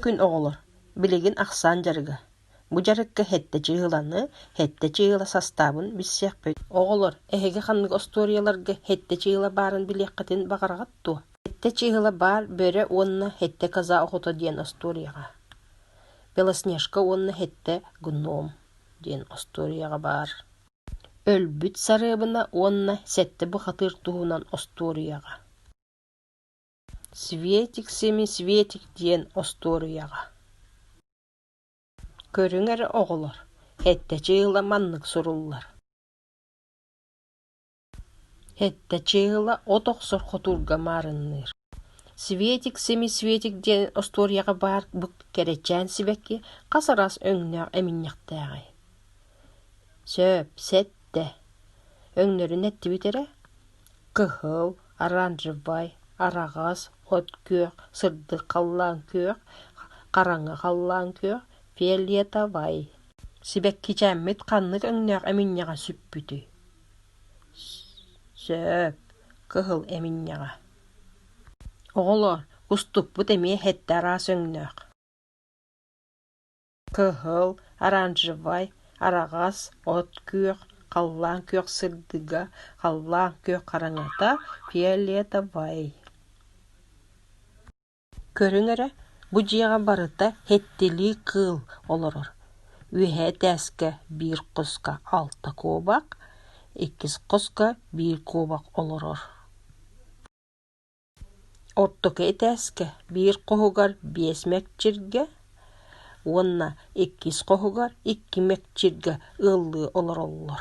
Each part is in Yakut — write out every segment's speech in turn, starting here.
күн оҕолор, билигин ахсаан дьарыга, бу дьарыкка сэттэ чыыһыланы, сэттэ чыыһыла састаабын билсиэхпит. Оҕолор, эһиги ханнык остуоруйаларга сэттэ чыыһыла баарын билиэххитин баҕараҕыт дуо? Сэттэ чыыһыла баар бөрө уонна сэттэ коза охото диэн остуоруйаҕа. Белоснежка уонна сэттэ гном диэн остуоруйаҕа баар. Өлбүт сарыабына уонна сэттэ бухатыыр туһунан остуоруйаҕа. Светик сими Светик диэн остуоруйаҕа Көрүҥ эрэ оҕолор, эттэчи ыла маннык суруллар Эттэчи ыла от охсор хотуурга маарынныыр Светик сими Светик диэн остуоруйаҕа баар бу кэрэчээн сибэкки хас араас өҥнөөх эминньэхтээҕий? Сөп, сэттэ. Өҥнөрүн эттибит эрэ кыһыл, оранжевай, араҕас, от күөх, сырдык халлаан күөх, хараҥа халлаан күөх, фиолетовай сибэккичээммит ханнык өҥнөөх эминньэҕэ сүппүтүй сөп кыһыл эминньэҕэ оҕолоор уступпут эмиэ сэттэ араас өҥнөөх кыһыл, оранжевай, араҕас, от күөх, халлаан күөх сырдыга, халлаан күөх хараҥата, фиолетовай Көрүҥ эрэ, бу дьиэҕэ барыта хэттилии кыыл олорор. Үөһээ этээскэ биир хоско алта куобах, иккис хоско биир куобах олорор Ортоку этээскэ биир хоһугар биэс мэкчиргэ уонна иккис хоһугар икки мэкчиргэ ыаллыы олороллор.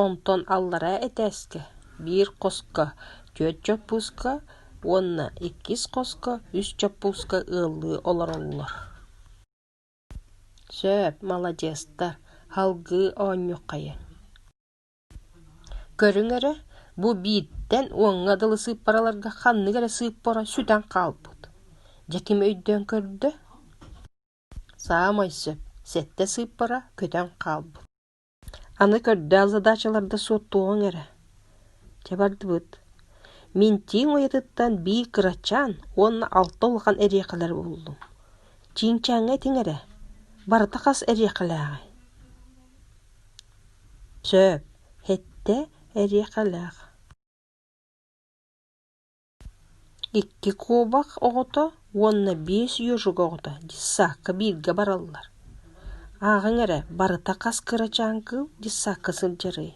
Онтон аллараа этээскэ биир хоско түөрт чоппууска уонна иккис хоско үс чоппууска ыаллыы олороллор. Сөп, маладьыастар, салгыы оонньуоххайыҥ Көрүҥ эрэ, бу бииртэн уоҥҥа дылы сыыппараларга ханнык эрэ сыыппара сүтэн хаалбыт. Дьэ ким өйдөөн көрдө? Саамай сөп, сэттэ сыыппара көтөн хаалбыт. Аны көрдөөх задачаларда суоттуоҕуҥ эрэ. Чэ бардыбыт. Мин чиин уйатыттан биир кырачаан уонна алта улахан эриэкэлэри буллум. Чиинчээҥҥэ этиҥ эрэ, барыта хас эриэкэлээҕий? Сөп, эттэ эриэхэлээх Икки куобах оҕото уонна биэс үөжүк оҕото дьыссаакка бииргэ бараллар. Ааҕыҥ эрэ, барыта хас кырачаан кыыл дьыссаакка сылдьарый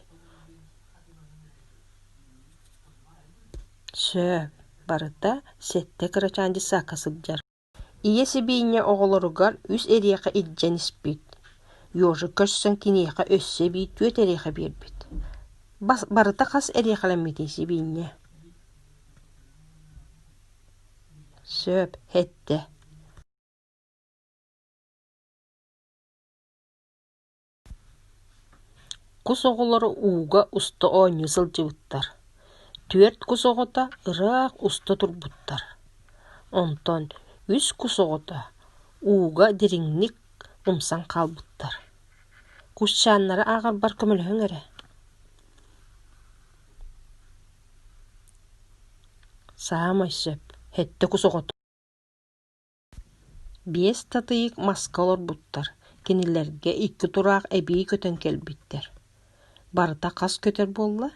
Сөп, барыта сэттэ кырачаан дьыссаакка сылдьар Ийэ сибиинньэ оҕолоругар үс эриэхэ илдьэн испит, Ёжа көрсөн киниэхэ өссө эбии түөрт эриэхэ биэрбит. Барыта хас эриэхэлэммитий сибиинньэ? Сөп, сэттэ Кус оҕолоро ууга уста оонньуу сылдьыбыттар, түөрт кус оҕото ыраах уста турбуттар, онтон үс кус оҕото ууга дириҥник умсан хаалбыттар. Кусчааннары ааҕарбар көмөлөһүҥ эрэ саамай сөп, сэттэ кус оҕото Биэс татыйык маска олорбуттар, кинилэргэ икки тураах эбии көтөн кэлбиттэр. Барыта хас көтөр буолла?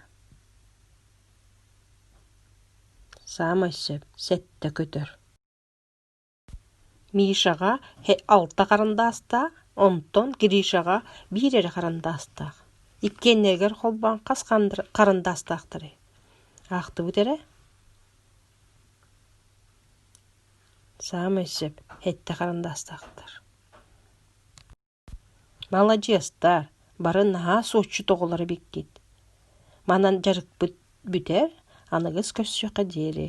Саамай сөп, сэттэ көтөр. Мишаҕа алта харандаастаах, онтон Гришаҕа биир эрэ харандаастаах. Иккиэннэригэр холбоон хас харандаастаахтарый? Аахтыбыт эрэ? саамай сөп эттэ харандаастаахтар маладьыастар бары наһаа суотчут оҕолор эбиккит манан дьарыкпыт бүтэр аныгыс көрсүөххэ диэри